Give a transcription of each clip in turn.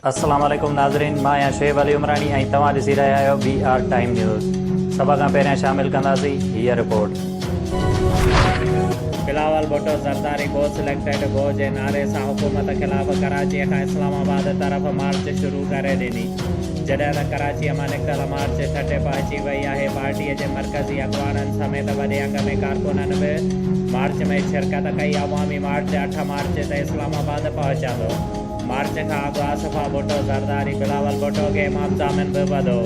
السلام عليڪم ناظرين مان آهيان شعيب علي عمراڻي ۽ توهان ڏسي رهيا آهيو بي آر ٽائيم نيوز سڀ کان پهريان شامل ڪنداسين هيء رپورٽ. Bilawal Bhutto Zardari go selected go جي نعري سان حڪومت خلاف ڪراچيء کان اسلام آباد طرف مارچ شروع ڪري ڏني جڏهن ته ڪراچيء مان نڪتل مارچ ٺٽي پهچي وئي آهي پارٽيء جي مرڪزي اڳواڻن سميت وڏي انگ ۾ ڪارڪنن به مارچ ۾ شرڪت ڪئي، عوامي مارچ اٺ مارچ تي اسلام آباد پهچندو، مارچ کان اڳ آصفه ڀٽو زرداري بلاول ڀٽو کي امام ضامن به وڌو.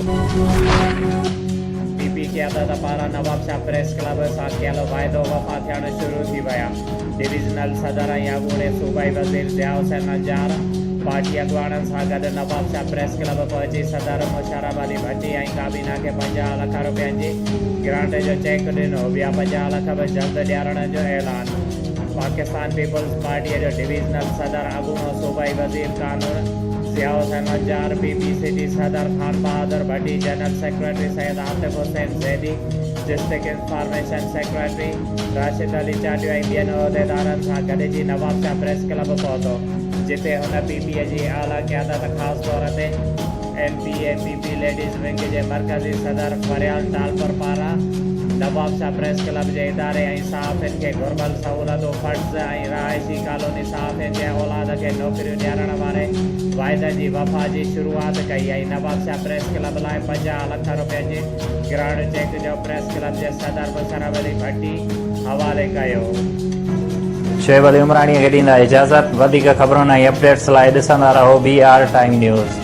پي پي قيادت پاران نوابشاهه پريس ڪلب سان ڪيل واعدو وفا ٿيڻ شروع ٿي ويا، ڊويزنل صدر ۽ اڳوڻي صوبائي وزير ضياء حسين نجار پارٽي اڳواڻن سان گڏ نوابشاهه پريس ڪلب پهچي صدر سهراب علي ڀٽي ۽ ڪابينا کي پنجاهه لک رپين جي گرانٽ جو چيڪ ڏنو، ٻيا پنجاهه لک به جلد ڏيارڻ جو اعلان پاڪستان پيپلز پارٽيء جو ڊويزنل صدر اڳوڻو صوبائي وزير قانون Zia Hussain Wajar, P P C جي صدر Khanbahadur Bhatti, general secretary Syed Atif Hussain Zaidi, district information secretary Rashid Ali Chatio ۽ ٻين عهديدارن سان گڏجي نوابشاهه پريس ڪلب پهتو، جتي هن پي پي جي اعليٰ قيادت خاص طور تي. M P A P P ladies wing جي مرڪزي صدر فريال ٽالپر پاران نواب شاھ پريس ڪلب جي اداري ۽ صحافين کي گهربل سهولتون فنڊز ۽ رهائشي ڪالوني صحافين جي اولاد کي نوڪريون ڏيارڻ واري واعدن جي وفا جي شروعات ڪئي ۽ نواب شاھ پريس ڪلب لاء پنجاهه لک روپين جي گرهڻ چيڪ جو پريس ڪلب جي صدر مشرف علي ڀٽي حوالي ڪيو. شعيب علي عمراڻيء کي ڏيندا اجازت. وڌيڪ خبرن ۽ اپڊيٽس لاء ڏسندا رهو بي آر ٽائيم نيوز.